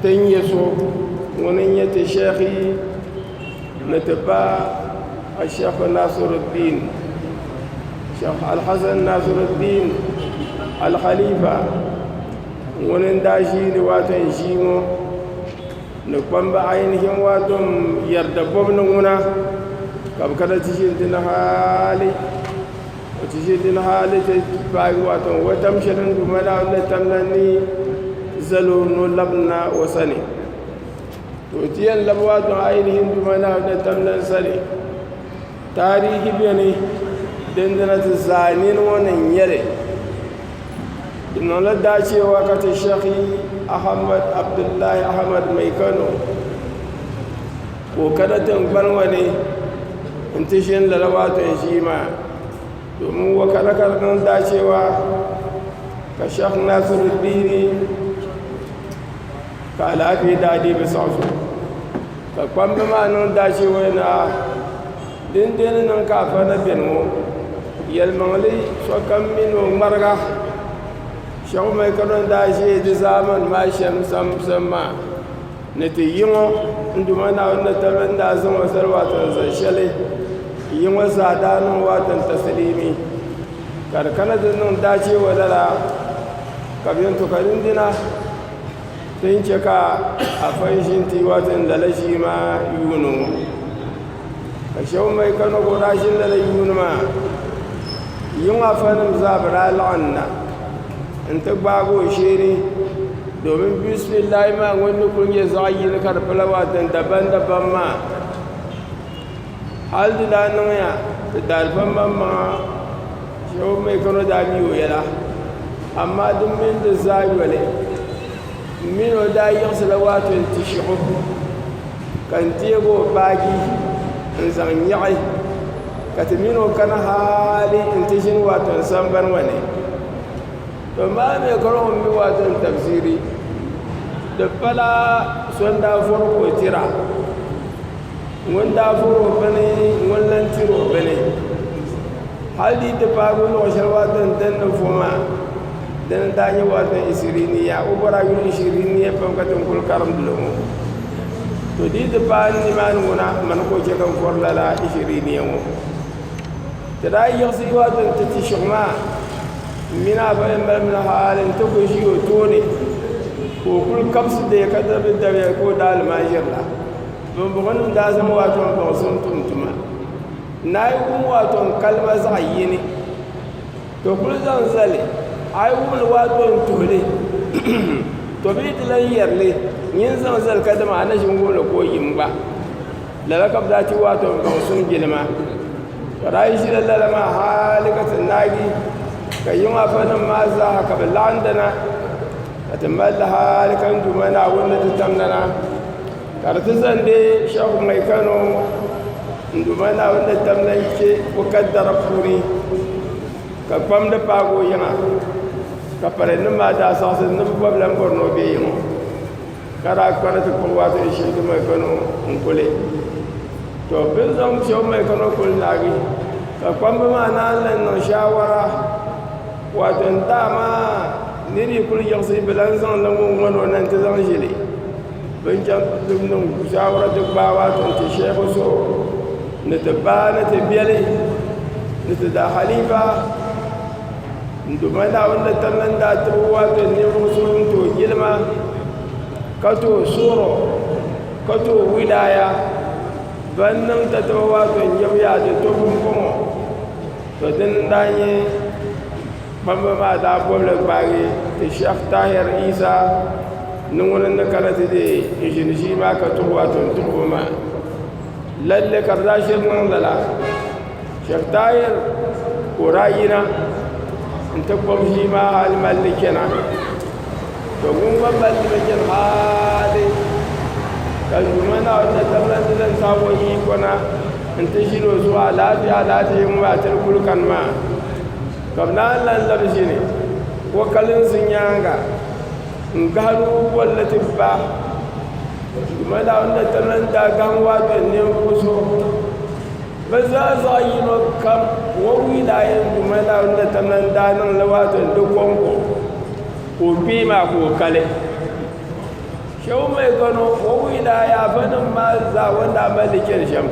Ti ni nyɛ so ŋun ni nyɛ ti Shɛhi ni ti ba Ashɛhi Naasiruddiin Shɛhi Alhassan Naasiruddiin Alhalifa ŋun n daa ʒii di waati n ʒii ŋɔ ni kpamba ayinihi n waa dom yɛri dabɔbu ni ŋuna ka bɛ kana ti ʒini ti ni haali O ti ʒe din ha ni ti paai wato o tam shɛli din Duuma daa ni tam la ni zali o ni o labi na o sani to o ti yɛn labi wato ainihin Duuma daa ni tam la sani taarihi beni dindina ti zaa nini ŋɔ ni nyɛli di niŋla daacheewa ka ti shɛhi Ahmad Abdullahi Ahmad Mai Kano Ka o kana tiŋgbani ŋɔ ni n-ti ʒini lala Waatɔn ʒii maa, domin o kana ka di niŋ daacheewa ka Sheikh Nasruddin ka alaafee daa deei bɛ siɣa zuɣu. Ka kpamba maa niŋ daacheewa ni aa! Dindee ni niŋ ka afa na beni ŋɔ? Yɛlimaŋli sokam mi ni o ŋmariga. Sheikh Umair Kaduna n-daa ʒi di zaamani maa shɛm sani maa. Ni ti yi ŋɔ, n Duuma Naawuni ni tabili n daa zaŋ o zali waati ni zaŋ shɛli yi ŋɔ zaa daa niŋ waati n tasiliimi, ka di kana ti niŋ daachiibo lala, ka bɛn to ka din dina ti ni chɛ ka a fan ʒi n-ti yi waati ni lala ʒii maa yuuni ŋɔ. ka shɛba mi ka na bɔŋɔ daa ʒi lala yuuni maa yiŋa afa nim zaa bi daa laɣim na n ti gbaagi o sheeni domin bisimilahi maa ŋun ni kuli nyɛ zaɣa yini ka di pala wontan dabam dabam maa hali di daa niŋ ya bi daari ba maŋ maŋa shɛba mi ka na daa mi o yɛla amaa di mini di zaa yɔli n mi ni o daa yiɣisi la waati yɛn ti shɛɣu. ka n deeg o baaji n-zaŋ nyaɣi ka ti min o kani hali nti ʒini Wharton sambani ŋɔ ni. To maa mi ka lɔŋ m-mi Wharton tafsiri, di pala so n-daa vɔri ka o tira. Ŋun daa vɔri o bini ŋun lan tiri o bini. Hali di yi ti paai bɛ luɣ shɛli Wharton din ni vo maa, dina n-daa nyɛ Wharton Ishiriniya. O bɔri a yuli Ishiriniya pam ka ti ni kul karimdi li ŋɔ. To dii ti paai nimaani ŋɔ na mani ka o chɛ ka n vɔri lala Ishiriniya ŋɔ. Ti daa yiɣisi dɔɣi ti ni ti ti shɛk maa, m mini a ba yɛn balimina hali nti kul ʒi o tooni ka o kul kabisi dee ka dabigi dabiya ka o daa lima ʒirila. Bɔŋbɔŋɔnim daa zaŋ Waatɔŋ baŋsim tum tuma. N naai wum Waatɔŋ kalima zaɣ yini. To kul zaŋ zali, a yi wum li waa to n-tuhi li, to bee ti lan yɛri li, nyin zaŋ zali kadama a na ʒi n-wum li ka o yim gba. Lala ka bɛ daa ti waa to n-zaŋ suŋ jilima. Ka daa yi ʒila lala maa hali ka ti naagi, ka yiŋ afanim maa zaaha ka bɛ laɣindana, ka ti mali li hali ka n Duuma Naawuni ni ti tamdana. Ka di ti zandi Shehu Mai Kano Nduma Naawuni ni tam la yichi o kaddara puuni ka kpam di paagi o yiŋa ka palinnim maa daa zaɣisi ni bɛ bɔbi lan bɔri ni o be yiŋo ka daa kpari ti kpuɣi waato di Shehu Mai Kano n-kuli to bɛ ni zaŋ Shehu Mai Kano kuli naagi ka kpambi maa naan lan niŋ shaawara waato n dama ni di yi kuli yiɣisi bɛ lan zaŋ la ŋun ŋɔni o na nti zaŋ ʒili Bɛ ni chɛŋ ti niŋ shaawara ti gbaai a sɔŋ ti shɛhigu zuɣu ni ti ba ni ti biɛli ni ti daa halifa n duuma Naawuni ni tiri ni daa tibigi waati ni ninvuɣ so ŋun tooi jilima ka tooi suhuri o ka tooi wilaaya ban niŋ tatabo waati n-jɛmgi a ti to pumpɔŋɔ to dini n-daa nyɛ Kpamba maa daa bɔbili gbaagi Sheikh Tahir Isa ni ŋuni ni kana ti deei ʒini ʒii maa ka tuhi ba tuhi tuhibu maa. Lalle ka bɛ daa ʒiri niŋ lala. Sheikh Tahir ka o daa yina n-ti kpuɣi ʒii maa hali mali li chana. To ŋun gba mali li mi chani hali ka Duuma Naawuni na tam lan ti zaŋ saha o yiiko na n-ti ʒini o zuɣu alaafee alaafee ŋɔ maa ti di kuli kani maa. Ka bɛ daa lan labi ʒini o kalinsi nyaaŋa n-gahiri o bolli ti ba. Duuma daa ni na ti lan daai gahim waa be ninvuɣ zuɣu. Bɛ zaa zaɣ yino kam, wɔbigi daa yɛn Duuma daa ni na ti lan daai niŋ li waa be di kɔŋko ka o kpee maa ka o kali. Shehu Mai Kano o wuhi daa yaafa nim maa zaa o ni daa mali li cheli shem.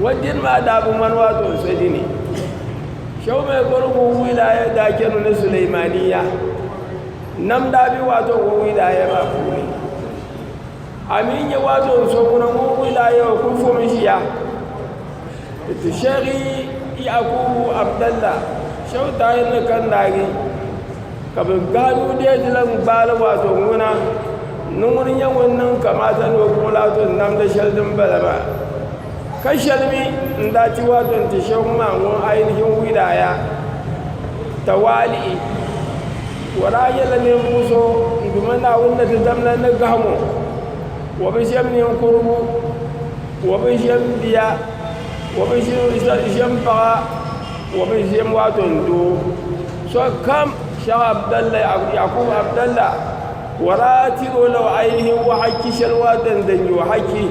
O dini maa daa bi ŋmani waa to n so dini. Shehu Mai Kano o wuhi daa ya daa chenu ni Suleimaniya nam daa be waa to o wuhi daa ya maa puuni. A mi nya waa to n so ŋuna ŋun wuhi daa ya o kuli fom ʒiya. Ti Shehi Yakubu Abdalla Shehu Tahir ni Kandagi. Ka bɛ gbaai o deei di la n-gbaali waato ŋuna, ni ŋuni nyɛ ŋun niŋ kamaata ni o kuŋ laato n-namdi shɛli din bala maa. Ka shɛli mi n-daa ti waato n-ti Shehu maa ŋɔ ainihin wilaaya, tawali'i, o daa nyɛla ninvuɣ so n-duma Naawuni ni ti dam la ni gahimo, o bi ʒiɛm ninkurigu, o bi ʒiɛm bia, o bi ʒiɛm paɣa, o bi ʒiɛm waato n-doo. Sokam Shɛh Abdalla Yakubu Abdalla ka o daa tiri o la o ainihin wahachi shɛli waa din din nyɛ o hachi.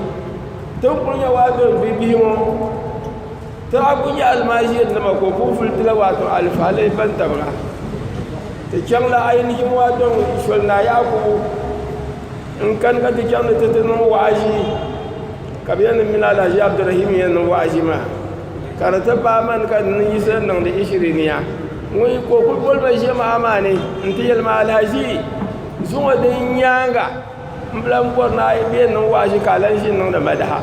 Ti ni kuli nya waa doli bibihi ŋɔ, ti daa kuli nyɛ almaʒirinima ka o kuli vuli ti la waato alifaalɛhi bantabiga. Ti chaŋ la ainihin waa dɔŋ Soli Naa Yakubu n-kani ka ti chaŋ ni ti ti niŋ waaʒi ka bɛ yɛn niŋ mi ni Alahaji Abdurahim ni yɛn niŋ waaʒi maa. Ka di ti paai mani ka di ni yiɣisi n niŋdi Ishiriniya ŋun yi ka o kul boli ma ʒiɛmaha maa ni nti yɛli ma, Alhaji, zuŋɔ din nyaaŋa m bi lan bɔri ni a yi bee niŋ waaʒi ka a lan ʒini niŋdi madaha.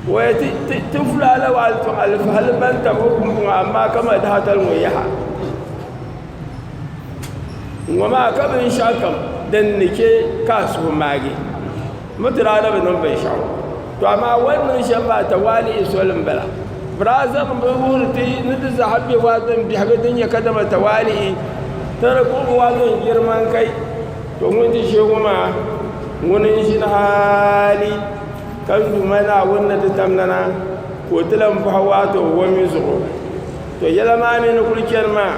Waya ti ti fulaa la waɣili tɔŋ alifahali ban tam o kum zuŋɔ amaa ka madaha tali ŋɔ yaha. Ŋɔ maa ka binshɛɣukam din ni chɛ ka a suhu maagi. Mi ti daa ni bi niŋ binshɛɣu. To amaa wali niŋ shɛm maa tawaalihi soli m-bala. Biraazim bi wuhiri ti ni ti zaa be waazin biɛhigu din nyɛ kadama tawaalihi ti ni kpuɣi waazin jiriman kai. To ŋun ti ʒiɛ ŋɔ maa, ŋuni n-ʒini hali ka n Duuma Naawuni ni ti tam nana ka o ti lan bɔhi waato o mi zuɣu. To yɛla maa mi ni kuli chani maa,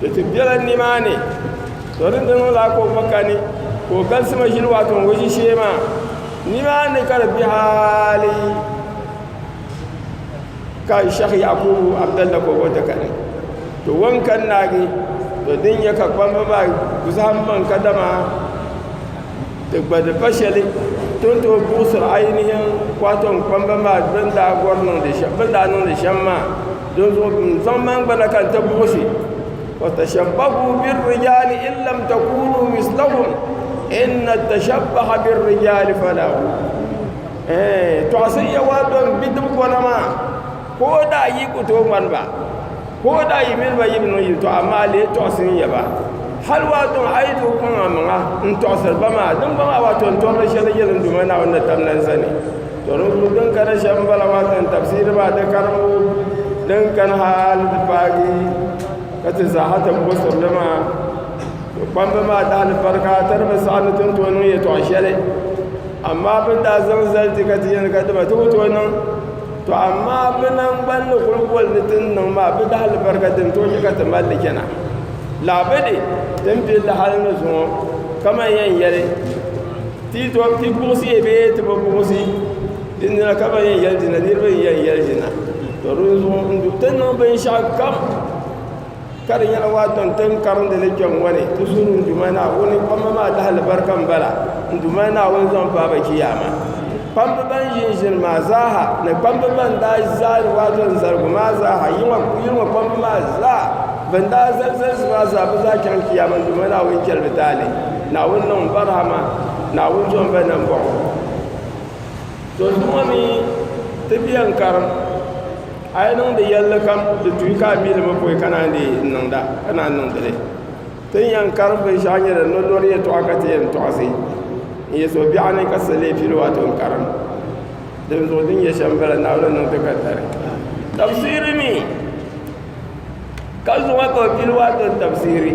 Di ti bela nimaani. To din di niŋla ka o gba kani ka o galisi maʒini wato ŋun ʒi shee maa nimaani ka di be hali ka Sheikh Yakubu Abdalla ka o gba ti kani. To wan kani naagi to din nyɛ ka kpamba maa ku zahim maŋ ka dama ti gba di pa shɛli to ni tooi buɣisiri ainihin kwaton kpamba maa bɛ ni daa gɔri niŋdi shɛm bɛ ni daa niŋdi shɛm maa Dinzuɣu bɛ ni zaŋ mani gba na ka n ti buɣisi, fatashabbahu birrijaali in lam takuunu mislahum inna tashabbaha birrijaali falaahu. Ɛɛn, tɔɣisi ya waa do n-bidib kɔna maa, ka o daa yi ku tooi ŋmani ba, ka o daa yi mini ba yi bi niŋ yiltɔɣa, amaa a lee tɔɣisi n-ya ba. Hal waa dɔŋ a yi tooi kɔŋ amaŋa n-tɔɣisiri ba maa, din gba maa waa tɔntɔrili shɛli n-nyɛ din doma Naawuni ni tamna n zani. Tɔrimbu din kani shɛm m-bala maa zaŋ tafsiri maa di karimbu din kani hal ti paagi ka ti zaaha ti buɣi sirili maa. Bɛ kpamba maa dahilifarika ti di bi saɣi ni ti ni tooi niŋ yɛtɔɣ shɛli. Amaa bɛ ni daa zaŋ zali ti ka ti yɛli ka dima ti bi tooi niŋ. Tɔ amaa bɛ naŋgban ni kul boli ni ti ni niŋ maa, bɛ dahilifarika din tooi chɛ ka ti mali li chana. Lahabudi ti ni be lahali ni zuŋɔ, kaman yɛn yɛli. Ti to ti buɣisi ya bee ti bi buɣisi di nira ka ban yɛn yɛli dina niriba n yɛn yɛli dina to di zuɣu n du ti niŋ binshɛɣu kam ka di nyɛla waa tɔn tin karindi li kpɛm ŋɔ ni ti zuɣu n duma naawuni kpamba maa lahi alibarika n bala n duma naawuni zaŋ paaba kiyaama kpambi ban ʒin ʒini maa zaaha ni kpambi ban daa zali waa tɔn zaligu maa zaaha yili ŋɔ kpambi maa zaa ban daa zali zalisi maa zaa bi zaa chaŋ kiyaama n duma naawuni chɛli bi taali Naawuni niŋ Barhama Naawuni jɔmba nambɔɣu. To di ŋɔ mi ti bia n-karim, a yi niŋdi yɛlli kam di tuhi ka a mi li mi pɔi ka naan dii niŋda, ka naan niŋdi li. Ti ni yɛn karim binshɛɣu nyɛ din ni lɔri yɛtɔɣa ka ti yɛn tɔɣisi n-yi so biɛɣu ni ka sili pili o a to n-karim. Dinzuɣu din nyɛ shɛm bala Naawuni ni niŋ ti ka dari. Tabisiri mi, ka zuŋɔ ka o pili o a to n-tabisiri.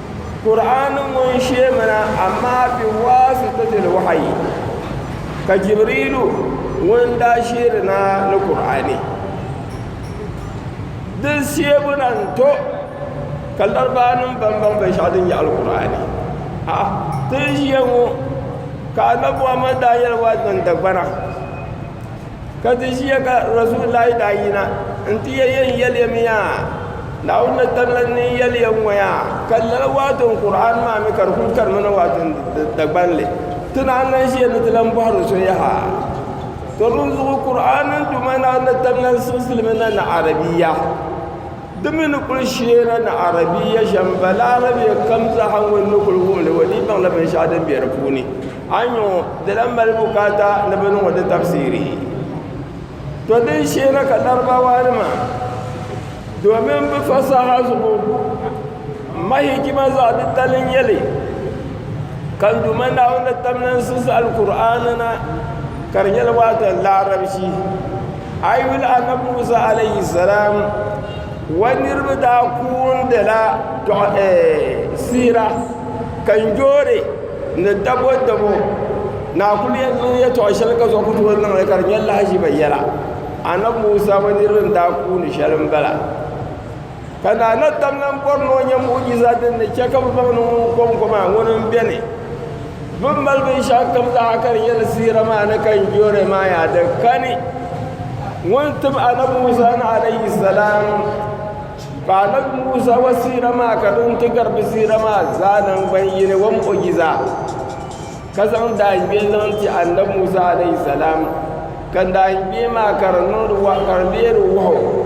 Kur'aani ŋɔ n-sheemina amaa bɛ waasi ti dili wahayi. Ka Jibriilu ŋun daa sheeri na ni Kur'aani. Di sheebu na n-to ka Larabaanima baŋbaŋ binshɛɣu din nyaɣili Kur'aani. A'a ti ni ʒiya ŋɔ ka Annabi Muhammad daa yɛli Waazman Dagbana ka ti ʒiya ka rasulillahi daa yina n ti yɛ yɛn yɛliya mi yaa naawuni ni tamla ni yɛliya ŋɔ yaa ka lala waato n qur'an maa mi ka di kuli karimi na waato n dagbanli ti naan lan ʒiya ni ti lan bɔhiri so yaha to di zuɣu qur'an duma naawuni ni tamla n siɣisili mi na ni arabiya Di mi ni kul sheeri ni Arabiya shɛm Balarabe kam zaaha ŋun ni kul wum li, o dii baŋla binshɛɣu din be di puuni. Anyɔ di lan mali bukaata ni bɛ niŋ o di tafsiri. Tɔ din sheeri ka Larabawanima domin bɛ fasaha zuɣu mahijima zaɣ titali n-nyɛ li, ka n Duuma Naawuni tamlansi za Alkur'aani na ka di nyɛla waatan Larabci. A yi yuli Annabi Musa alayhi salam wa niriba daa koondila siira kanjoori ni dabo dabo ni a kuli yɛn niŋ yɛtɔɣ shɛli ka zuɣu ku tooi niŋ li ka di nyɛ lahaʒiba yɛla Annabi Musa wa niriba ni daa kooni shɛli m-bala Ka Naa na tam lan bɔri ni o nya mu'ujiza din ni chɛ ka bɛ zaŋ niŋ ŋun kɔŋko maa, ŋuni m-beni? Bɛ ni mali binshɛɣu kam zaa ka di nyɛ li siɣira maa ni ka n jooni maa yaa di kani. Ŋun tim Anabi Musa ni alayhi salaam, ka Anabi Musa wa siɣira maa ka di ni ti gari bɛ siɣira maa zaa naŋgban yini wa mu'ujiza, ka zaŋ daangbee zaŋ ti Anabi Musa alayhi salaam, ka daangbee maa ka di niŋdi ka di leeri wahu.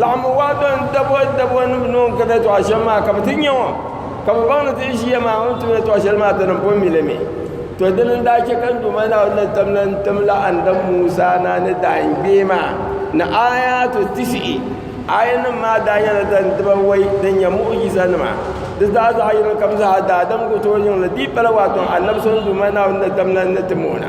Laɣim waa bɛn dabɔ dabɔ ni bɛ ni o ni kari yɛtɔɣa shɛm maa ka bɛ ti nya o, ka bɛ baŋ ni ti yi ʒiya maa o ni tum yɛtɔɣ shɛli maa dini pun mi li mi. Tɔ! Dini n-daa chɛ ka Duuma Naawuni ni tam lan timla Annabi Musaa na ni daangbee maa ni aayaatu tisihi. Aayanim maa daa nyɛla din dibawei din nyɛ mu'ujizanima. Di zaa zaɣ yini kam zaa daadam ku tooi niŋ li. Di yi pala waatɔŋ Annabi so Duuma Naawuni ni tam lan ni tim o na.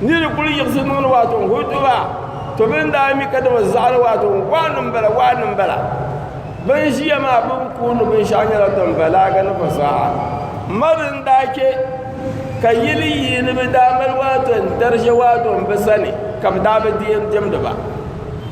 Ni di kuli yiɣisi niŋdi waato n hoi duba, to mi ni daa mi ka dama zaɣili waato n waani m bala waani m bala. Bɛn ʒiya maa bɛn kooni binshɛɣu nyɛla Dimbalaga ni Fasaha. M ma di ni daa chɛ ka yili yi ni bɛ daa mali waato n-dari ʒe waato m bɛ sani ka bɛ daa bi di yɛn diɛmdi ba.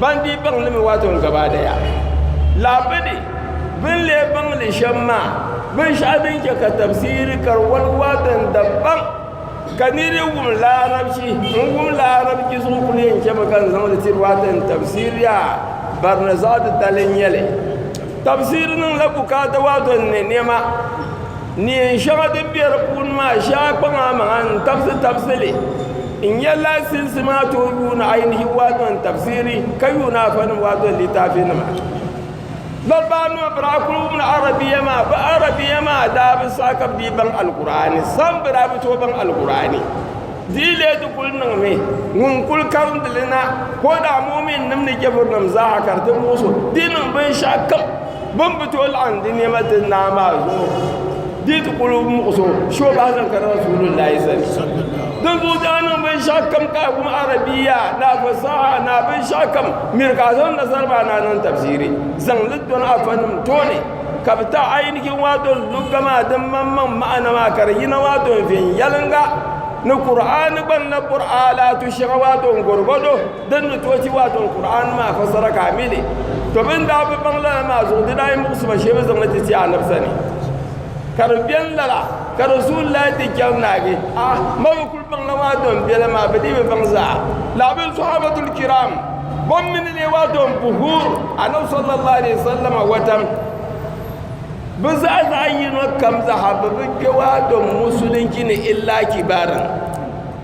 ban dii baŋ li mi waato n gabaadaya lahabidi bin lee baŋ li shɛm maa binshaɣu din chɛ ka tabsiri ka di wali waato n dabbaŋ ka ni di wum laarabchi n wum laarabchi zuɣu ku lee chɛmi ka n zaŋ li tiri waato n tabsiri yaa barina zaɣ titali n nyɛli tabsiri niŋla bukaata waato n ni niɛma neen shɛŋa din bɛ di puuni maa shee a kpaŋ a maŋa n tabisi tabisi li N nya laasinsi maa tooi yuuni ainihin wato n tafsiri ka yuuni afanim wato littafi nima. Bal baa nima bɛ daa kuli wumla Arabiya maa, bɛ Arabiya maa daa bi saha ka bɛ dii baŋ Alkur'aani sam, bɛ daa bi tooi baŋ Alkur'aani. Di yi leei di kuli niŋmi ŋun kuli karindi li na ka o daa mu'uminnim ni jɛfurinim zaa ha ka di ti muɣis o, di niŋ binshɛɣu kam. Bɛ ni bi tooi laɣim di nɛma ti Naa maa zuɣu di yi ti kul muɣis o shee o bahi zaŋ kari Rasuulullaahi sani. Dinzuɣu di daa niŋ binshɛɣukam ka a wum Arabiya ni a fasaha ni a binshɛɣukam miri ka a zaŋ nasara maa ni a niŋ tafsiri zaŋ li dɔni afanima tooni ka bɛ ti a yi ni chɛ waatol lugga maa din maŋmaŋ maana maa ka di yina waatol viɛnyɛliŋga ni Kur'aani gba ni lahi bɔri a alaatu shɛŋa waatol gɔdogɔdo. Din ni tooi chɛ wato n Kur'aani maa fassara ka a mi li, to bɛn daa bi baŋ lala maa zuɣu di daa yi muɣisi ba shee bɛ zaŋ li ti ti Annabi sani. Ka di beni lala ka Rasulillahi ti chɛri naagi, A, ma bi kul baŋla wato n bela maa, bɛ dii bi baŋ zaa. Lala bɛn Sɔhaabatul Kiram bɛn mi ni leei wato n puhi Annabi sallallahu alaihi wasallama watam, bɛ zaa zaɣi yino kam zaa ha bɛ bi kpe wato musulinchi ni illa kibarin.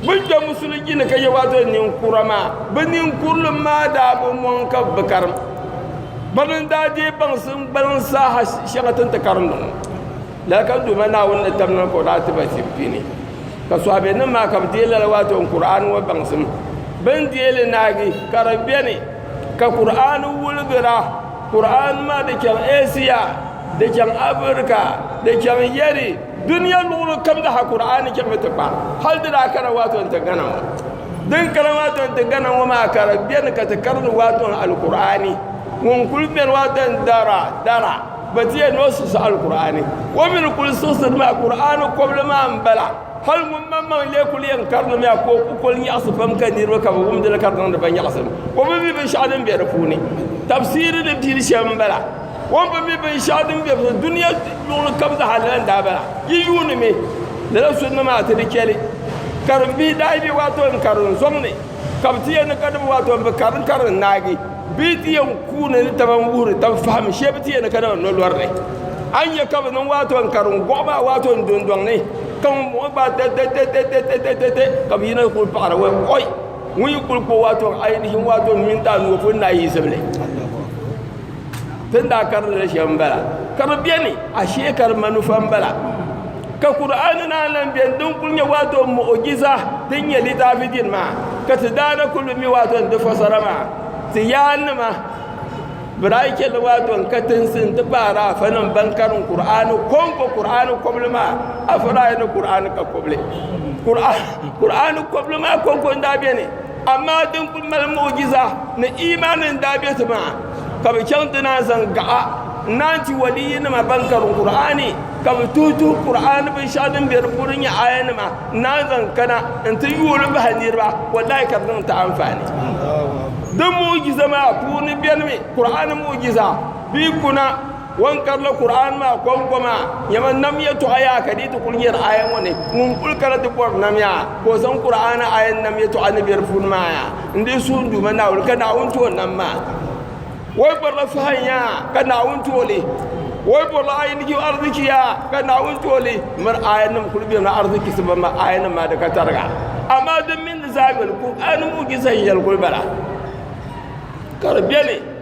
Bin kpɛ musuli ji ni ka yɛ waa doli ninkura maa, bɛ ninkurulim maa daa bi mɔŋ ka bɛ karim. Bɛ mi n-daa deei baŋsi n-gbaliŋ saha shɛŋa ti ni ti karim di ŋɔ. Lala ka Duuma Naawuni ni tabina ni ka o daa ti ba tim pini. Ka sɔhaabiɛnim maa ka bɛ deei lala waa doli Kur'aani ŋɔ baŋsim. Bɛ ni deei li naagi ka di beni ka Kur'aani wuligira. Kur'aani maa di chaŋ Eesiya, di chaŋ Afirika, di chaŋ Yari. Dunia luɣili kam di ha Kur'aani chɛmi ti kpa, hal di daa kana waatɔn ti Ghana ŋɔ. Din kana waatɔn ti Ghana ŋɔ maa ka di beni ka ti karini waatɔn Alkur'aani. Ŋun kul beni waatɔn dara dara ba ti yɛli ni o siɣisi Alkur'aani. O mi ni kul siɣisiri maa Kur'aani kɔbili maa m-bala. Hal ŋumbɔŋmaŋ lee kul yɛn karinimiya ka o kukol nyaɣisi pam ka niriba ka bɛ wumdi li ka di niŋdi ba nyaɣisim. O bi mi binshɛɣu din be di puuni. Tabsiiri ni pili shɛm m-bala. O ni bi mi binshɛɣu din be bi dunia luɣili kam zaa lala n-daa bala. Yi yuuni mi lala suri nima ata di cheli karim bihi daa yi be waato n karim zom ni ka bi ti yɛn niŋ ka di bi waato n bi karim karim naagi bee ti yɛn kuuni ni taba n wuhiri taba fahim shee bi ti yɛn ni ka dama no lori ni. A ni nya ka bi niŋ waato n karim goɣi maa waato n do n doŋ ni ka ŋun bɔŋɔ gbaai tɛtɛtɛtɛtɛtɛtɛtɛtɛ ka bi yina yi kuli paɣira wai oi ŋun yi kuli kpo waato ainihin waato n mini daa ni o pun naai yi zibili. Tin daa karili li shɛm bala, ka bi beni ashee ka di manufa m-bala. Ka Kur'aani naan lan beni din kul nyɛ waato mu'ujiza din nyɛ litaafi dini maa, ka ti daa na kul bi mi waato n-di fasara maa ti yaannima, bɛ daa yi chɛli waato n-katinsi nti pahi Araafɛnim bɛn karim Kur'aani kɔŋko Kur'aani kɔbili maa, a faraaya ni Kur'aani ka kɔbili. Kur'aani kɔbili maa kɔŋko n-daa beni. Amaa din kul mali muɣijiza ni imaani n-daa be ti maa, ka bɛ chaŋ ti naan zaŋ gaɣa n-naan ti waliyinima ban karim Kur'aani, ka bɛ tuhi tuhi Kur'aani binshɛɣu din be di puuni nyɛ aayanima n-naan zaŋ kana nti yuui li bahi niriba, wallaahi ka di niŋ ti anfaani. Di muɣijiza maa puuni benimi Kur'aani muɣijiza bee kuna. Wan karila Kur'aan maa kɔŋkɔma, nyama nam yɛtɔɣa yaa ka di yi ti kul nyari aya ŋɔ ni, ŋun kul kana ti bɔri nam yaa, ka o zaŋ Kur'aana aya ni nam yɛtɔɣa ni be di puuni maa yaa n-dii suhi n Duuma Naawuni, ka Naawuni ti o nam maa. O yi bɔrila fahin yaa, ka Naawuni ti o li. O yi bɔrila ayinigim ariziki yaa, ka Naawuni ti o li. Miri ayanim kul bemi ariziki ti bamma ayanim maa di ka tariga. Amaa din mi ni zaa yoli, Kur'aani mu'ujiza n-yɛli kul bala, ka di beni.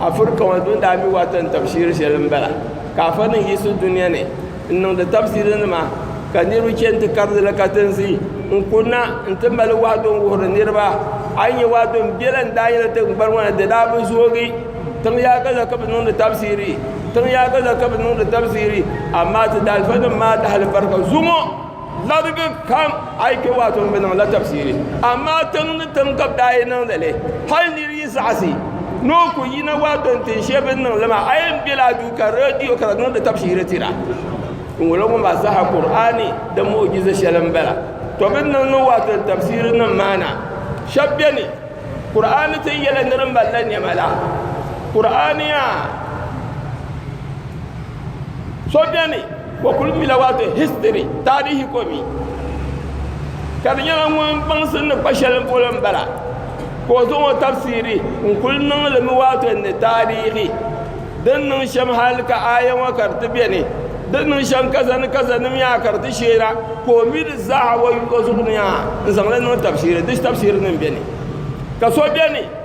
Afirika ŋɔ dun daa mi wata n tabi shiri shɛli n bala ka afa nim yiɣisi dunia ni n niŋdi tabisiri nima ka niriba chani ti kari di la katinsi n kuri na n ti mali wahado n wuhiri niriba a yi nya wahado n bela n daa yɛli tiŋgbani ŋɔ na di daa bi zoogi tiŋ yaaga la ka bi niŋdi tabisiri tiŋ yaaga la ka bi niŋdi tabisiri amaa ti daalifa nim maa dahali barika zuŋɔ Larigi kam a yi kpe waato m-bi niŋ la tafsiri, amaa tiŋ ni tiŋ ka bɛ daa yi niŋdi li. Hal nir yi zaɣisi ni o ku yina waato n-tin shɛli bɛ ni niŋ li maa, a yɛn bela a duu ka reediyo ka di niŋdi tafsiri tira. Ŋ-ŋɔlo ŋɔ maa zaa ha Kur'aani di mu'ujiza shɛli m-bala. Tɔ bɛ ni niŋ niŋ waato ni tafsirinim maa na, shɛb beni, Kur'aani ti yɛla ni di mali la nɛma la. Kur'aani yaa so beni. O kuli mila wato history taarihi ko mi ka di nyɛla ŋun baŋsim ni kpa shɛli polo n bala ka o zaŋ o tafsiri n kuli niŋli mi wato ni taarihi din niŋ shɛm hali ka aaya ŋɔ ka di ti bɛni din niŋ shɛm kaza ni kaza nim yaa ka di ti sheera ka o mi di zaaha o zuɣu ni yaa n zaŋli niŋ tafsiri di tafsiri nim bɛni ka so bɛni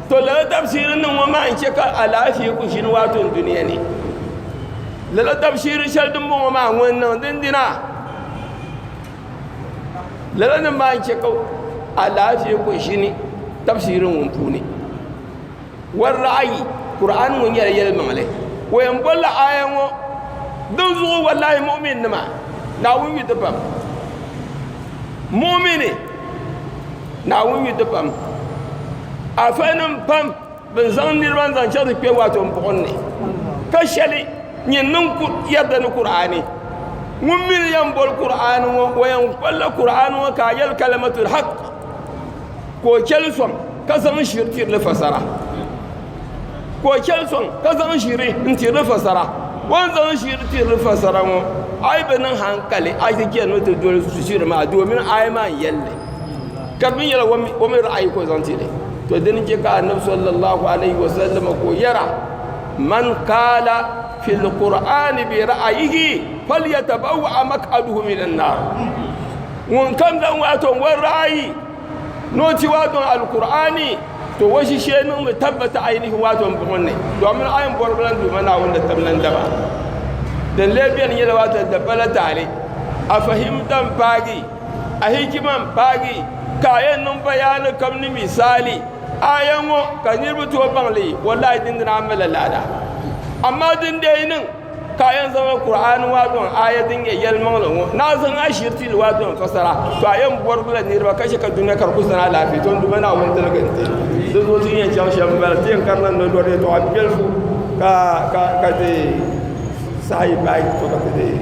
To lala tabshiri niŋ ŋɔ maa n-chɛ ka alaafee ku ʒini waato n dunia ni. Lala tabshiri shɛli din bɔŋɔ maa ŋun niŋ dindina lala nim maa n-chɛ ka alaafee ku ʒini tabshiri ŋun puuni. Warraɣi Kur'aani ŋɔ nyɛla yɛlimaŋli. O yɛn bɔrila aaya ŋɔ din zuɣu wallahi mu'minnima Naawuni yu ti pam. Mu'mini. Naawuni yu ti pam alifanim pam bin zaŋ niriba zaŋ chaŋ ti kpe waato buɣim ni ka shɛli nyɛ niŋ yarda ni Kur'aani ŋun mi ni yɛn boli Kur'aani ŋɔ o yɛn kpalila Kur'aani ŋɔ ka a yɛli kalimatul haq ka o chɛli sɔŋ ka zaŋ shiri tiri li fasara ka o chɛni sɔŋ ka zaŋ ʒiri n tiri ni fasara o ni zaŋ ʒiri tiri ni fasara ŋɔ a yi bi niŋ hankali a yi chɛni ni o ti doli ʒiri maa domin aaya maa n yɛli li ka di mii nyɛla o mii ra'ayi ka o zaŋ tili to dini n chɛ ka annabi sallallahu alaihi wasallam ka o yɛra man qaala fil qur'aani bi ra'ayihi falyatabawa'a maq'adahu minan naar ŋunkam zaŋ o ra'ayi Ni o ti waa dɔŋ Alkur'aani, to o ʒishee niŋmi tabbata ayinihi waa dɔŋ buɣim ni, dɔmin ayini bɔribila n-duhima Naawuni ni tabina n-daba. Din lee beni nyɛla waa dɔŋ dabba la taali. A fahimta m-paagi, a hikima m-paagi, ka a yɛn niŋ bayaani kam ni misaali aaya ŋɔ ka niriba tooi baŋ li, wallahi dindina a malila laada. Amaa din dee yi niŋ. Ka a yɛn zaŋla Kur'aani maa dɔŋ aaya din nyɛ yɛlimaŋli ŋɔ ni a zaŋ ashiriti li maa dɔŋ fasara, to a yɛn bɔrigila niriba ka chɛ ka dunia ka di kul zani alaafee, to Duuma Naawuni tiligi n-ti. Di zuɣu ti ni yɛn chaŋ shɛm m-bala, ti yɛn karila ni lɔri yɛtɔɣa biɛlifu ka ti saha yi paai, to ka ti deei.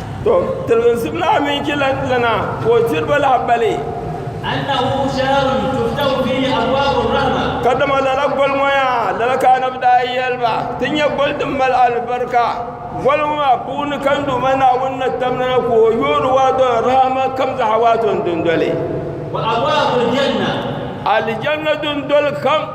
To tilgi zib naa mini ki lana ka o diri ba lahabali. Annahu shahrun tuftahu fihi abwabu rahma. Ka dama lala goli ŋɔ yaa lala ka anabi daa yɛli ba ti nyɛ goli din mali alibarika goli ŋɔ maa puuni ka n Duuma Naawuni na tam nana ka o yoori waato ni rahama kam zaha waato ni dundoli. Wa abwabu aljanna. Aljanna dundoli kam.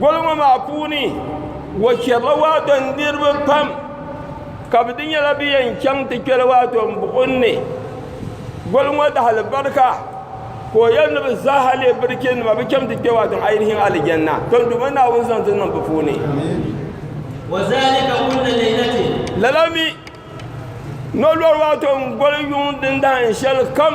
Gol ŋɔ maa puuni o chɛrila waato niriba pam ka bɛ di nyɛla bɛ yɛn chaŋ ti kpɛli waato m-buɣim ni gol ŋɔ dahilibarika ka o yɛli ni bɛ zaaha leei birikinima bɛ chaŋ ti kpe waato ŋɔ a yi di hiɛŋ alijanna ton duuma Naawuni zaŋ ti niŋ bɛ puuni lala mi ni o lɔri waato n-goli yuŋ dindahim shɛlikam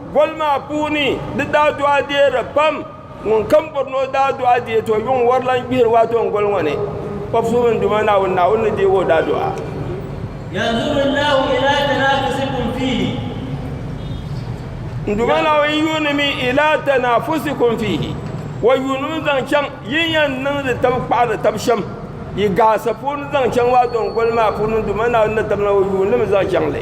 Boli maa puuni di daa dɔɣi deeri pam. Ŋun kam bɔri ni o daa dɔɣi deei ti o yuŋ wɔri lan gbihiri waa ti o ni goli ŋɔ ni, O Puhi mini Duuma Naawuni, Naawuni ni deeg o daa dɔɣi. Yanzuru Allahu ilaa tanaafusikum fiihi. N Duuma Naawuni yuunimi ilaa tanaafusikum fiihi, O yuunimi zaŋ chaŋ yi ni yɛn niŋdi tab kpaɣiri tab shɛm yi gaasa puuni zaŋ chaŋ waa ti o ni goli maa puuni, Duuma Naawuni ni tabina O yuunimi zaŋ chaŋ li.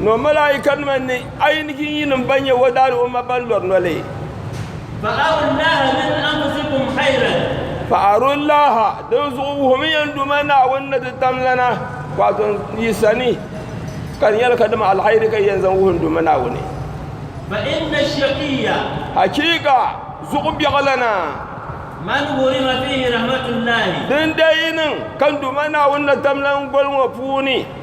Nɔ malaayikanima ni a yi ni jinyinim ban nyɛ wɔdaali o ma ban lɔri noli. Fa'arullaaha, dinzuɣu wuhimi yɛn Duuma Naawuni ni ti tam lana waato yi sani, ka di nyɛla kadama alhairi ka yɛn zaŋ wuhi n Duuma Naawuni. Hachiika zuɣu biɛɣu lana, dindee yi niŋ ka n Duuma Naawuni na tam lan goli ŋɔ puuni.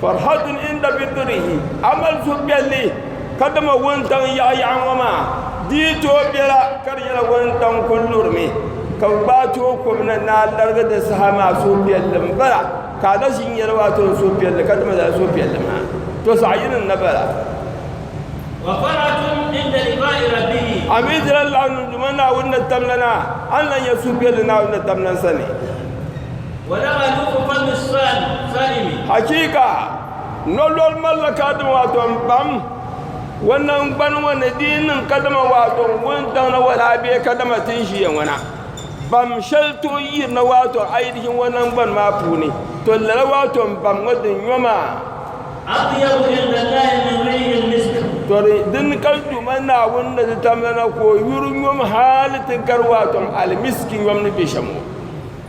Farhatun inda fitirihi, a mali suhupiɛlli ka dama wuntaŋ yaɣayaɣa ŋɔ maa di yi tooi bela ka di nyɛla wuntaŋ kuli lurimi ka bɛ gbaai ti o kom na ni a larigi di saha maa suhupiɛlli m-bala ka a na ʒi n-yɛli o a tɔli suhupiɛlli ka dama lala suhupiɛlli maa to zaɣ yini n-na bala. Wa farhatun inda liqaa'i rabbihi. A mi dila laɣininduma Naawuni ni tamlana, a ni lahi nya suhupiɛlli Naawuni ni tamlan sani. Hachiika, nolɔri malila kadama waato m-pam o naŋgbani ŋɔ ni di yi niŋ kadama waato n-wuntaŋ na wala a bee kadama ti ni ʒiya ŋɔ na. Bam shɛli tooi yirina waato a yi di ʒini o naŋgbani maa puuni, to lala waato m-bam ŋɔ din nyo maa. Tɔri dini ka Duuma Naawuni ni di tamla na ka o yuri nyom hali ti gari waato alimiski nyom ni be shɛm ŋɔ.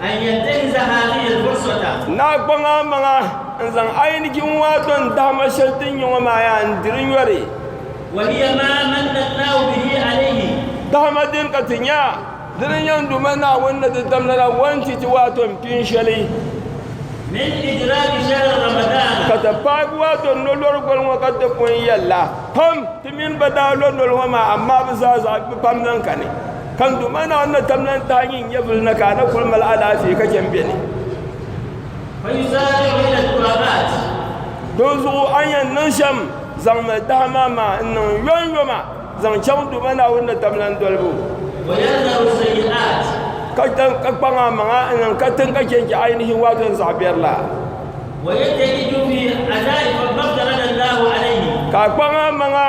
A ni yɛn deei zaɣa ni yɛli buɣi sota. Naa kpaŋ a maŋa n-zaŋ a yinigi ŋun a do n-dahima shɛli ti n-nyɛ ŋɔ maa yaa n-diri nyɔri. Wa hiya maa manna Allahu bihi alayhi. Dahima din ka ti nya, dini n-nyɛ n Duuma Naawuni ni di dam lala wan ti ti waato n pin shɛli. Min idraki shahri Ramadaana. Ka ti paagi waato n lo lɔri goli ŋɔ ka ti pun yɛli la, pam ti mini ba daa lo noli ŋɔ maa amaa bi zaa zaɣi bi pam lahi kani. Ka n Duuma Naawuni na tamla n tahi nyin nyɛvili na ka a na kul mali alaafee ka chɛ m-be ni. Dinzuɣu a ni yɛn niŋ shɛm, zaŋmi dahima maa n-niŋ yɔnyɔma zaŋ chaŋ n Duuma Naawuni ni tamla n dolibu, ka kpaŋ a maŋa n-niŋ katiŋ ka chɛ n-chɛ a yi ni hin waati n zaɣ biɛri la, ka a kpaŋ a maŋa.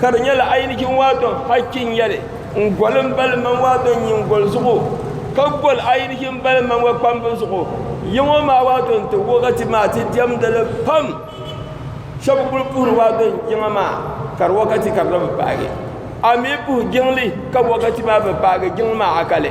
Ka di nyɛla ayinijin waadon hakki n-nyɛli n-goli m-bali man waadon nyingoli zuɣu, ka goli ayinijin m-bali man wa kpambu zuɣu. Ya ŋɔ maa waadon ti wɔɣi ti maa ti diɛmdi li pam. Shɛba kul puhiri waadon jiŋa maa ka di wakati ka di na bi paagi. A mi puhi jiŋli ka wakati maa bi paagi jiŋli maa akali.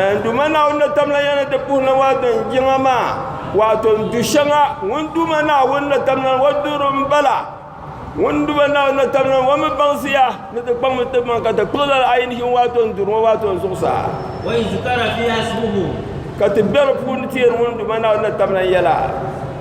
N Duuma Naawuni na tamla ya ni ti puhi na waatin yiŋa maa, waato n du shɛŋa, ŋun Duuma Naawuni na tamla ni o duhiri m bala, ŋun Duuma Naawuni na tamla ni o mi baŋsi ya ni ti kpaŋmi n ti maŋ ka ti kpiɣi lala ayi ni ʒini waato n duri ŋɔ waato n zuɣusaa, ka ti be di puuni teeri ŋun Duuma Naawuni na tamla yɛla.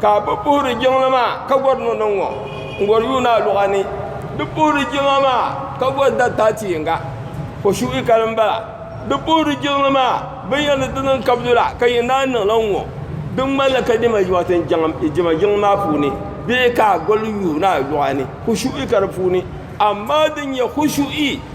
Ka bɛ puhiri jiŋli maa ka gɔri niŋdi ŋɔ n-gɔri yuuni a luɣa ni. Di puhiri jiŋa maa ka gɔri dari taati yiŋga o suhi kali m-bala. Di puhiri jiŋli maa binyɛri ni ti niŋ kabidu la ka yɛn daa niŋla n-ŋɔ. Di ŋmani la ka diɛma yiŋati diɛma jiŋli maa puuni bee ka a gɔri yuuni a luɣa ni kushuhi ka di puuni amaa din nyɛ kushuhi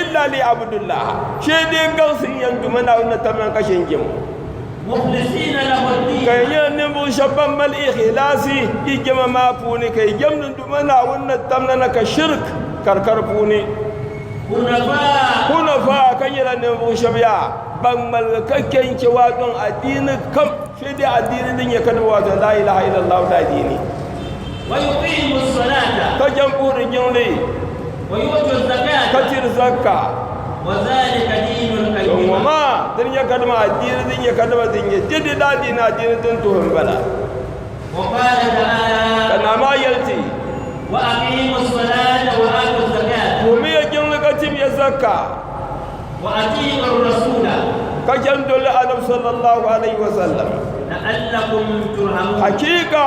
Illa liyabudullaha shee dee n gaŋsi n yan duma Naawuni na tamya ka she n jɛm o. Mukhlisina lahu ddiina. Ka yi nyɛ ninvuɣu shɛb ban mali ikhilaasi yi jɛma maa puuni ka yi jɛmdi n duma Naawuni na tamya na ka shirik ka di ka di puuni. Hunafaa. Hunafaa ka nyɛla ninvuɣu shɛb yaa ban ŋmaligi ka che n che waato n adiini kam shee dee adiini din nyɛ ka di be waato laa ilaha illallahu la adiini. Wa yuqiimu ssolata. Ka jɛm puhiri jiŋli. ka diri zaka ŋɔ maa din nyɛ ka dima adiini din nyɛ ka dima din nyɛ dede daa diini adiini din tuhi n bala ka naa maa yɛli ti tuhumiya jiŋli ka timiya zaka ka chɛn doli anabi sallallahu alaihi wasallam hakika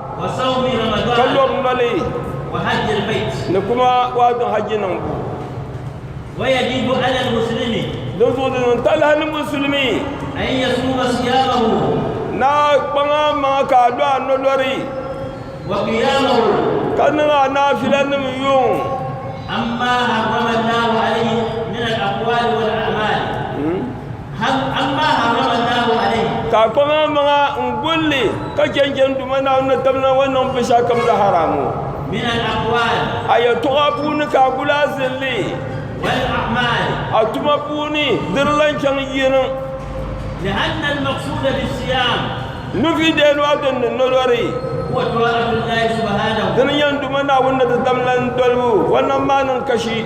ka lɔb noli ni kuma wato hajji niŋbu din zuɣu din niŋ talahi ni musulimi na kpaŋa maŋa ka a lo a nolori ka niŋ a naafila nim yuŋ Hal Allah harrama Allahu alayhi. Ka kɔŋa maŋa n gul li ka chɛn chɛn Duuma Naawuni ni tibili na ŋɔ niŋ binshɛɣu kam la haramu. Min al-aqwal. A yɛtɔɣa puuni ka a gul a zilli. Wal a'mal. A tuma puuni di di lan chaŋ yihi niŋ. Li'anna al-maqsuda bis-siyam. Nufi dee nɔhi din ni nolɔri. Huwa ta'atu Allahi subhanahu. Di ni nyɛ n Duuma Naawuni ni ti tamlan dolibu vɔnnan maa niŋ kashi.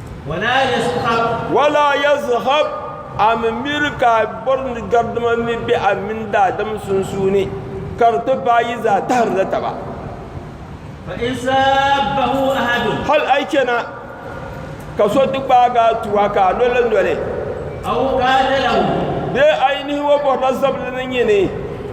Wala yazhab, a mi miri ka a bɔri ni garidima ni be a mini daadam sunsuuni, ka di ti paai yi zaa tahirila taba. Hal a yi chana ka so ti gbaag a tuwa ka a lo li noli, bee a yi nihibu bɔrila zabili ni nyini,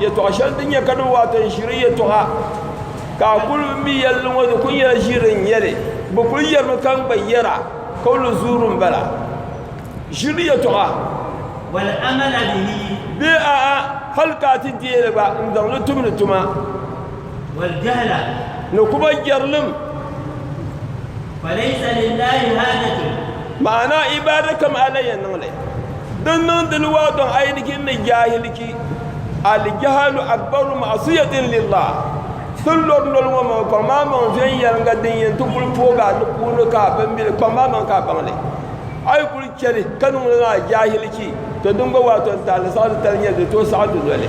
Yɛtɔɣ shɛli din nyɛ kadoo waato n-ʒiri yɛtɔɣa ka a kul mi yɛli li ŋɔ di kul nyɛla ʒiri n-nyɛ li. Bɛ kul yɛrimi ka n gba yɛra ka o lu zuuri m-bala. Ʒiri yɛtɔɣa. Bee a'a hal ka a ti deei li gba n-zaŋ li tumdi tuma. ni kuba jɛrilim maana ibaada kam ala yɛn niŋli din niŋdili waa dɔŋ a yi di ki ni jaahiliki alijahalu akbaru ma'asiyatin lillah tin lɔri noli ŋɔ maŋa kpaŋ maa maŋ viɛnyɛliŋga din yɛn ti kuli poogi a ni puuni ka a bimbili kpaŋ maa maŋ ka a baŋli a yi kuli chɛli ka niŋ li maa jaahiliki to din gba waa tɔntali saɣiri tali nyɛli di tooi saɣi dunoli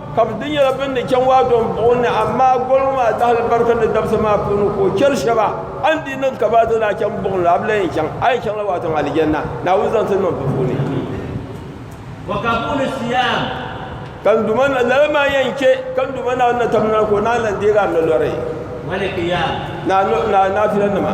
Ka bɛ di nyɛla bɛ ni chaŋ waa dɔŋ buɣi ni, amaa goliŋ maa dahili barika ni dabisa maa puuni ka o chɛri shɛba, a ni di niŋ ka bɛ a ti daa chaŋ buɣim la, a bi lan yɛn chaŋ, a yɛn chaŋla waa dɔŋ Alijanna Naawuni zaŋ ti niŋ bɛ puuni. Ka n Duuma na, lala maa yɛn chɛ ka n Duuma Naawuni na tamdina ka o naanyi lan deeg a ni lɔri naa naafilanima.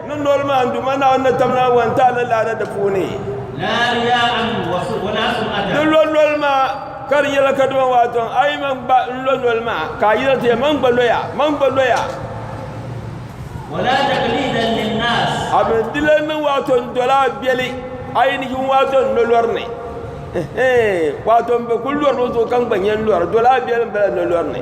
Ni noli maa n Duuma Naawuni ni tam Naawuni n taali laada di puuni. Ni lo noli maa ka di nyɛla ka dima waato a yi man gba n lo noli maa ka a yina ti man gba loya man gba loya. A mi di lan niŋ waato n dola a beli a yi ni yin waato n lo lori ni. Waato n bi kuli lori o zuɣu ka n gba nyɛ n lori dola a beli n bala n lo lori ni.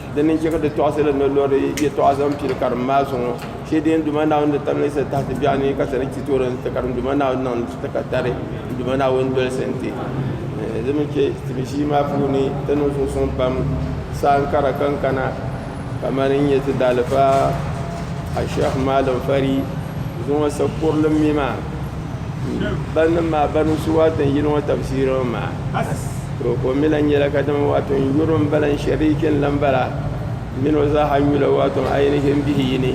Di ni chɛ ka di tɔɣisili ni lɔri yɛtɔɣa zaŋ pili karim maa zuŋɔ shee din Duuma Naawuni ni tamli sa tahiti biɛɣu ni ka sani ti toori n-ti karim Duuma Naawuni niŋ n-ti ti ka tari n Duuma Naawuni dolisi n-ti. Di mi chɛ tibi ʒii maa puuni ti niŋ suŋsuŋ pam saaŋkara kankana kamani n nyɛ ti daalifa Asheikh Maalim Fari zuŋɔ sa kurili mi maa. Barinim maa barinim su waatu n yili ŋɔ tabisiri ŋɔ maa to ka o mi lan nyela kadama waatu n yuri o m bala n shariki n lan bala m min o zaa ha n yula waatu n ayinisi m bihi yi ni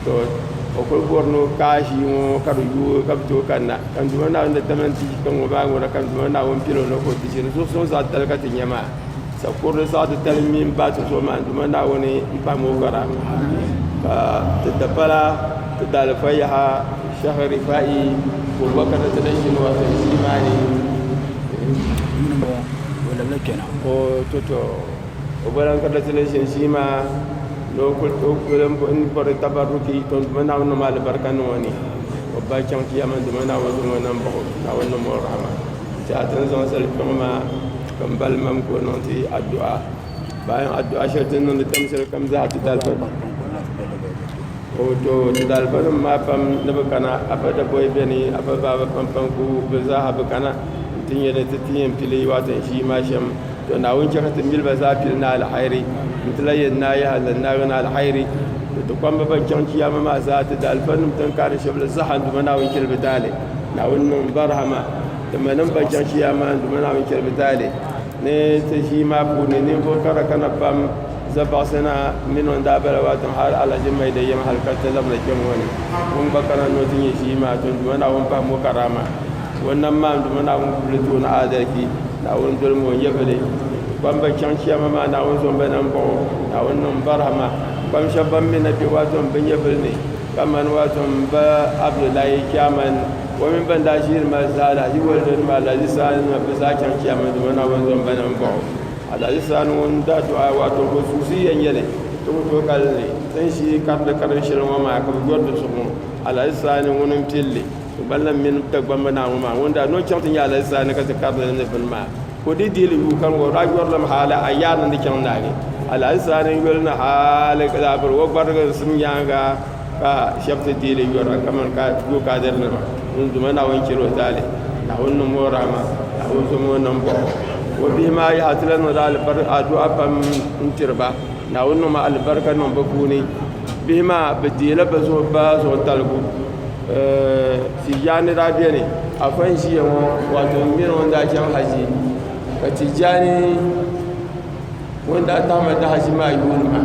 to o kuli bori ni o kaai ʒii ŋɔ ka di yuui ka bi tooi kanna ka n Duuma Naawuni ni tamani ti yi kpe ŋɔ maa ŋuna ka n Duuma Naawuni pili o ni o ka o ti ʒini zuɣusun zaa tali ka ti nya maa sakurili saɣi ti tali mini baati zuɣu maa n Duuma Naawuni m pahim o vara ka di dapala Ti daalifa yaha Sheikh Rifa'i Bubakar ni ti ni ʒini o zaŋ ti imaani yuni ŋɔ o labila kpɛna. O toto o bɔla n-kari li ti ni ʒini ʒii maa ni o kuli bɔri tabarruki ton duuma Naawuni niŋm alibarika niŋ o ni o ba chaŋ ti yɛlimaŋli dama Naawuni zaŋ o nam bahi o Naawuni niŋm o rahima. Ti a ti ni zaŋ zali kpiɔŋ maa ka m bali mam ka o niŋ ti addu'a. Bayan addu'a shɛli ti ni niŋdi tamshɛlikam zaa ti daalifa. O to Tudalibanim maa pam ni bɛ kana, Afa Daboi beni, Afa Baaba Pampaŋku, bɛ zaaha bi kana nti nya ni ti ti yɛn pili Watin Shii maa shɛm. To Naawuni chɛ ka ti mil ba zaa pili ni alihayiri, nti lahi yɛn naai yaha zaŋ naagi ni alihayiri. To ti kpamba bɛn chaŋ Chiyaama maa zaa, Tudalibanim tiŋ kaani shɛbili zaaha n-duma Naawuni chɛli bɛ taali. Naawuni niŋ ba rahima. Timanim bɛn chaŋ Chiyaama maa n-duma Naawuni chɛli bɛ taali ni ti ʒii maa puuni ninvuɣ kara kana pam. Za baɣisi na mini o ni daa bala waa tiŋ hal Alaji Maida yɛm hal ka ti labina kpɛŋŋɔ ni o ni gba kana ni o ti nyɛ ʒii maa ton Duuma Naawuni pahim o karaama. Ka o nam maani Duuma Naawuni gubili tooni aadalchi. Naawuni doli ma o nyɛvili. Kpam ba chaŋ Chiyaama maa Naawuni zo m-ba na m-bɔŋɔ. Naawuni niŋ barahima kpam shɛba ban mi na kpe waa ton bɛ nyɛvili ni kamani waa ton m-ba Abdullahi Chairman o mini ban daa ʒiiri ma zaa Alaji Waldo nima Alaji Sani nima bɛ zaa chaŋ Chiyaama Duuma Naawuni zo m-ba na m-bɔŋɔ. Alahisaani ŋɔ n daa duɣa waato ka o suhisi yɛn yɛli ti ku tooi kali ni ti ni shii kariti karim shɛli ŋɔ maa ka bi yɔri di zuɣu ŋɔ alahisaani ŋuni n pilli so ban lahi mini Dagbamba naa ŋɔ maa ŋun daa ni o chaŋ ti nya alahisaani ka ti kariti li ni bini maa ka o dii dihili yuui kani ŋɔ o daa yɔrilim hali a yaari ni di chaŋ naagi alahisaani yoli ni hali ka daa biri o gbarigi n sim nyaanga Ka shɛb ti deei li yɔra kaman Goo Kaadiri nima ŋun Duuma Naawuni chɛri o taali, Naawuni niŋm o rahima, Naawuni zom o nam bahi o. O bihi maa yaha ti lan niŋdi adu'a pam n-tiri ba, Naawuni niŋm alibarika niŋ bɛ puuni. Bihi maa bɛ deeila bɛ zuɣu ba zuɣu taligu. Tijaani daa beni, afa n-ʒiya ŋɔ waato m mini o ni daa chaŋ haji, ka Tijaani ŋun daa tahim a dahaʒi maa yuuni ma.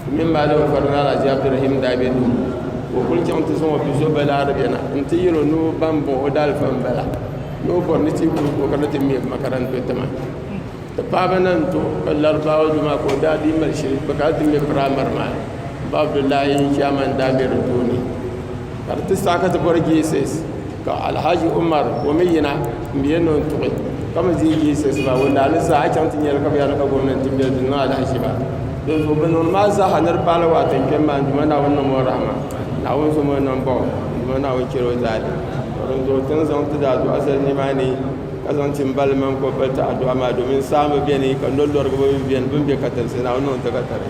O mini Maalim Fari Naa Alhaji Abdurahim daa be duu ka o kuli chaŋ ti zaŋ o bizo Balarabe na nti yɛl o ni o baŋ bɔŋ o daalifa m-bala ni o bɔri ni ti yi kuli ku o kana ti me makaranta o tiŋa. Ti paaba na n-ti o ka Larabawa duma ka o daa dii mali shili bɛ kana ti me piraimari maa ni m-ba Abdullahi Chairman daa be di tooni ka di ti saha ka ti bɔri JSS. ka alhaji umar ka o mi yina n bɛ yɛn ni o ni tuɣi ka mi dii yiɣisi soŋ maa ŋun ni zaa a yi chaŋ ti nyɛli ka bi yɛli ka gɔvnɛnti n bɛ dini maa lahi ʒiba din zuɣu bi niŋdi maa zaa ni di paai la waati n kpɛm maa n duma naawuni niŋm o rahama naawuni zom o niŋ baŋ n duma naawuni chɛli o zaali ka din zuɣu ti ni zaŋ ti daadɔɣi zali ni maa ni ka zaŋ ti n bali mini ka o pili ti adua maa domin saa mi bɛni ka noli lorigibo mi bɛni bini bɛ katalisi naawuni niŋ ti ka tali